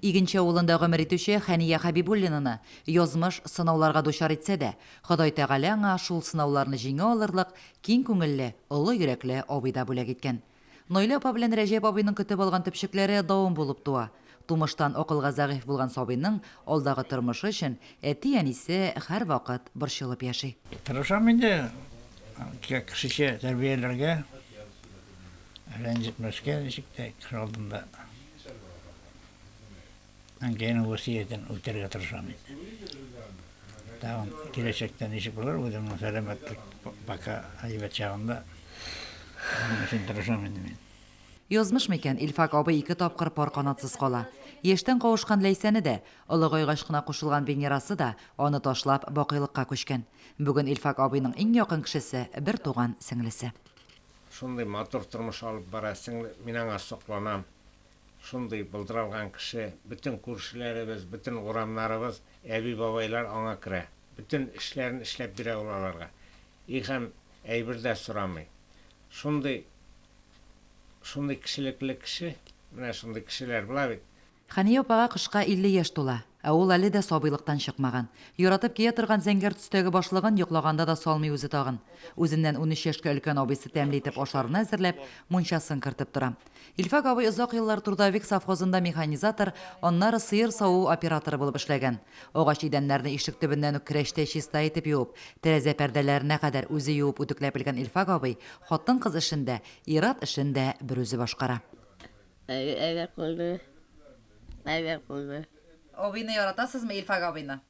Игенче авылында гомер итүче Хәния Хәбибуллинаны язмыш сынауларга дучар итсә дә, Ходай Тәгалә аңа шул сынауларны җиңә алырлык киң күңелле, олы йөрәкле абый да бүләк иткән. Наилә апа белән Рәҗәп абыйның көтеп алган төпчекләре давым булып туа. Тумыштан акылга зәгыйфь булган сабыйның алдагы тормышы өчен әти-әнисе һәрвакыт борчылып яши. Тырышам инде кешечә тәрбияләргә, рәнҗетмәскә ничек тә кеше алдында. Әнкәйне васыятен үтәргә тырышам инде. Тагын киләчәктә ничек булыр, үземнең сәламәтлек пока әйбәт чагында. Моның өчен тырышам инде мин. Язмыш микән, Илфак абый ике тапкыр пар канатсыз кала. Яшьтән кавышкан Ләйсәне дә, олыгайгач кына кушылган Венерасы да аны ташлап, бакыйлыкка күчкән. Бүген Илфак абыйның иң якын кешесе, бертуган сеңлесе. Шундый матур тормыш алып бара сеңле, мин аңа сокланам. Шундый былдыралган кеше. Бөтен күршеләребез, бөтен урамнарыбыз, әби-бабайлар аңа керә. Бөтен эшләрен эшләп бирә ул аларга. И һәм әйбер дә сорамый. Шундый, шундый кешелекле кеше. Менә шундый кешеләр була бит. Хәния апага кышка 50 яшь тула, ә ул әле дә сабыйлыктан чыкмаган. Яратып кия торган зәңгәр төстәге башлыгын йоклаганда да салмый үзе тагын. Үзеннән унөч яшькә өлкән абыйсы тәмле итеп ашларны әзерләп, мунчасын кертеп тора. Илфак абый озак еллар Трудовик совхозында механизатор, аннары сыер саву операторы булып эшләгән. Агач идәннәрне ишек төбеннән үк керәчтәй чиста итеп юып, тәрәзә пәрдәләренә кадәр үзе юып-үтекләп белгән Илфак абый хатын-кыз эшен дә, ир-ат эшен дә берүзе башкара. Әйбәт булды, әйбәт булды. Абыйны яратасызмы, Илфак абыйны?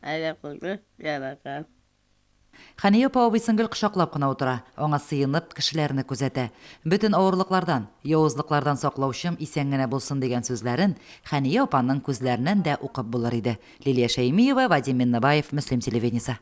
Әйбәт булды, яратам. Хәния апа абыйсын гел кочаклап кына утыра, аңа сыенып, кешеләрне күзәтә. Бөтен авырлыклардан, явызлыклардан саклаучым исән генә булсын, дигән сүзләрен Хәния апаның күзләреннән дә укып булыр иде. Лилия Шәймиева, Вадим Миннебаев, Мөслим телевидениесе.